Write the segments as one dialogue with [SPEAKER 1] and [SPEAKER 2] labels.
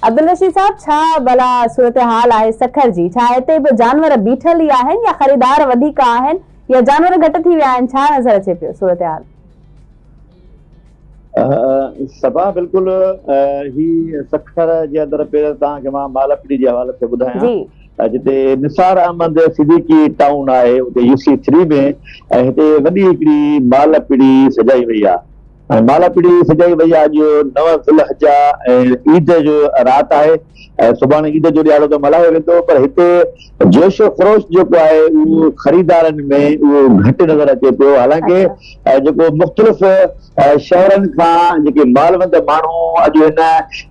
[SPEAKER 1] عبدالرشيد صاحب ڇا ڀلا صورتحال آهي سکر جي؟ ڇا هتي به جانور بيٺل ئي آهن يا خريدار وڌيڪ آهن يا جانور گهٽ ٿي ويا آهن ڇا نظر اچي پيو صورتحال؟
[SPEAKER 2] صبا بلڪل هي سکر جي اندر پيل توهان کي مان مالپڙي جي حوالي سان ٻڌايان جتي نثار احمد صديقي ٽائون آهي اتي يو سي ٿري ۾ هتي وڏي هڪڙي مالپڙي سجائي وئي آهي ۽ مالاپڙي سجائي وئي آهي. اڄ نو ذوالحجه ۽ عيد جو رات آهي ۽ سڀاڻي عيد جو ڏهاڙو ته ملهايو ويندو پر هتي جوش و خروش جيڪو آهي اهو خريدارن ۾ اهو گهٽ نظر اچي پيو حالانڪه جيڪو مختلف شهرن کان جيڪي مالوند ماڻهو اڄ هن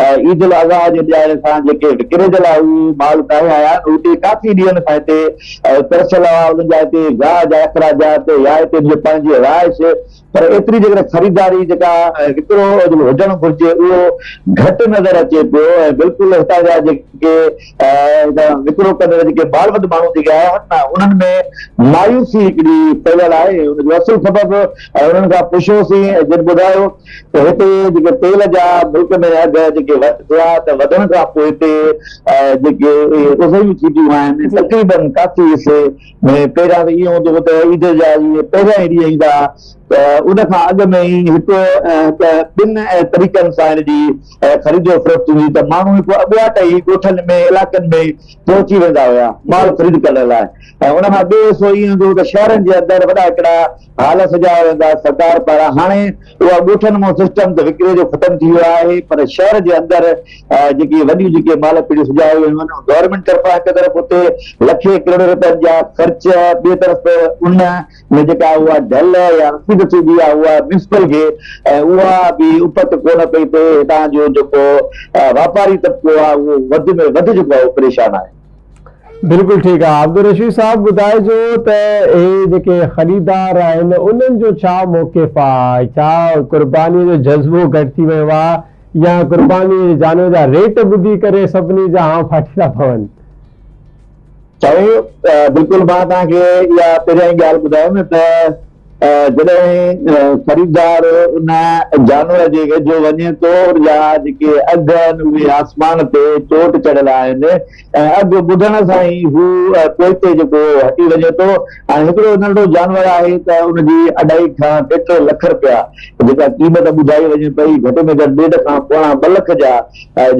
[SPEAKER 2] عيد الاضحيٰ جي ڏهاڙي سان جيڪي وڪري جي لاء اهو مال ڪاهي آيا آهن اهو ڪي ڪافي ڏينهن کان هتي ترسيل هئا انهن جا هتي گاهه جا اخراجات يا هتي جي پنهنجي رهائش پر ايتري جيڪڏهن خريداري جيڪا وڪرو هجڻ گهرجي اهو گهٽ نظر اچي پيو ۽ بلڪل هتان جا جيڪي وڪرو ڪندڙ جيڪي ٻال وڌ ماڻهو جيڪي آيا آهن نه انهن ۾ مايوسي هڪڙي ڦهليل آهي ۽ ان جو اصل سبب انهن کان پڇيوسين ۽ جن ٻڌايو ته هتي جيڪي تيل جا ملڪ ۾ اگهه جيڪي وڌيا ته وڌڻ کان پوء هتي جيڪي اهي اضهيون ٿي پيون آهن تقريبن ڪافي حصي ۾ پهريان ته ائين هوندو هو ته عيد جا جيئن پهريان ئي ڏينهن ايندا ها ته ان کان اڳ ۾ ئي هڪ هڪ ٻن طريقن سان هن جي خريد و فروخت ٿيندي هئي ته ماڻهو هڪ اڳواٽ ئي ڳوٺن ۾ علائقن ۾ پهچي ويندا هيا مال خريد ڪرڻ لاء ۽ ان کان ٻيو حصو ائين هوندو هو ته شهرن جي اندر وڏا هڪڙا هال سجايا ويندا سرڪار پاران هاڻي اها ڳوٺن مون سسٽم ته وڪري جو ختم ٿي ويو آهي پر شهر جي اندر جيڪي وڏيون جيڪي مال پيڙهيون سجايو ويون آهن گورنمينٽ طرفان هڪ طرف اتي لکين ڪروڙين رپين جا خرچ ٻي طرف ان ۾ جيڪا اها ڍل يا رسيد ٿي بي آهي اها ميونسپل کي ۽ اها به اپت ڪونه پئي پئي هتان جو جيڪو واپاري طبقو آهي اهو وڌ ۾ وڌ جيڪو آهي اهو پريشان آهي. بلڪل
[SPEAKER 3] ٺيڪ آ عبدالرشيد صاحب ٻڌائجو ته اهي جيڪي خريدار آهن انهن جو ڇا موقف آ ڇا قرباني جو جذبو گهٽ ٿي ويو آ يا قرباني جي جانور جا ريٽ ٻڌي ڪري سڀني جا هان ڦاٽي ٿا پون. سائين
[SPEAKER 2] بلڪل مان توهان کي اها پهريائين ڳالهه ٻڌايم ته جڏهن خريدار ان جانور جي ويجهو وڃي ٿو جا جيڪي اگهه آهن اهي آسمان تي چوٽ چڙهيل آهن ۽ اگهه ٻڌڻ سان ئي هو پوئتي جيڪو هٽي وڃي ٿو. هاڻي هڪڙو ننڍڙو جانور آهي ته ان جي اڍائي کان ٽي ٽي لک رپيا جيڪا قيمت ٻڌائي وڃي پئي گهٽ ۾ گهٽ ڏيڍ کان پوڻا ٻه لک جا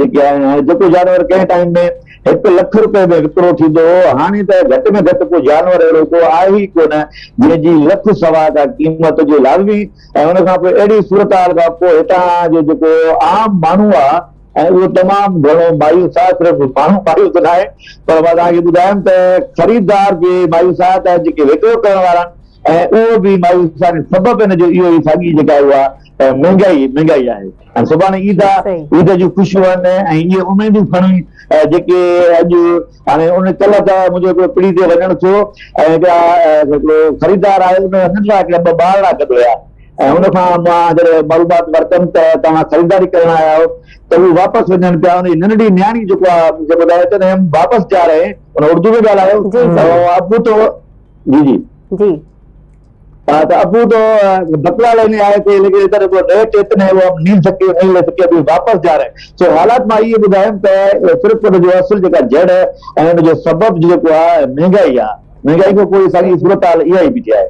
[SPEAKER 2] جيڪي آهن هاڻي جيڪو جانور ڪنهن ٽائيم ۾ هڪ لک رپئي ۾ وڪرو ٿيندو هو، هاڻي ته گهٽ ۾ گهٽ ڪو جانور اهڙو ڪو آهي ئي ڪونه، جنهن جي لک سوا ڪا قيمت هجي لازمي ۽ ان کان پوء اهڙي صورتحال کان پوء هتان جو جيڪو عام ماڻهو آهي ۽ اهو تمام گهڻو مايوس آهي، صرف ماڻهو مايوس ناهي پر مان توهان کي ٻڌايم ته خريدار به مايوس آهي ته جيڪي وڪرو ڪرڻ وارا آهن ۽ اهو به مايوس آهن، سبب ان جو اهو ئي ساڳي جيڪا اها مهنگائي مهنگائي آهي. ۽ سڀاڻي عيد آ، عيد جون خوشيون آهن ۽ اهي اميدون کڻي جيڪي اڄ هاڻي ان ڪلهه ته منهنجو هڪڙو پڙي تي وڃڻ ٿيو ۽ هڪڙا هڪڙو خريدار آيو ان هن لاء هڪڙا ٻه ٻارڙا گڏ هيا ۽ ان کان مان جڏهن معلومات ورتم ته توهان خريداري ڪرڻ آيا آهيو ته هو واپس وڃن پيا ان جي ننڍڙي نياڻي جيڪو آ مون کي ٻڌايو چوندي هم واپس جا رهي هين ان اردو ۾ ڳالهايو ۽ ابو تو جي جي جي ته ابو تو بتلا ليني آئي ٿي ليڪن ادھر ابو نئي ٽيت نئي هو اب نيل سکي نيل نئي سکي ابي واپس جا رهي سو حالات مان اهي ٻڌايم ته صرف ان جو اصل جيڪا جڙ ۽ ان جو سبب جيڪو آهي مهنگائي آهي مهنگائي کان پوء ساڳي صورتحال اها ئي بيٺي آهي.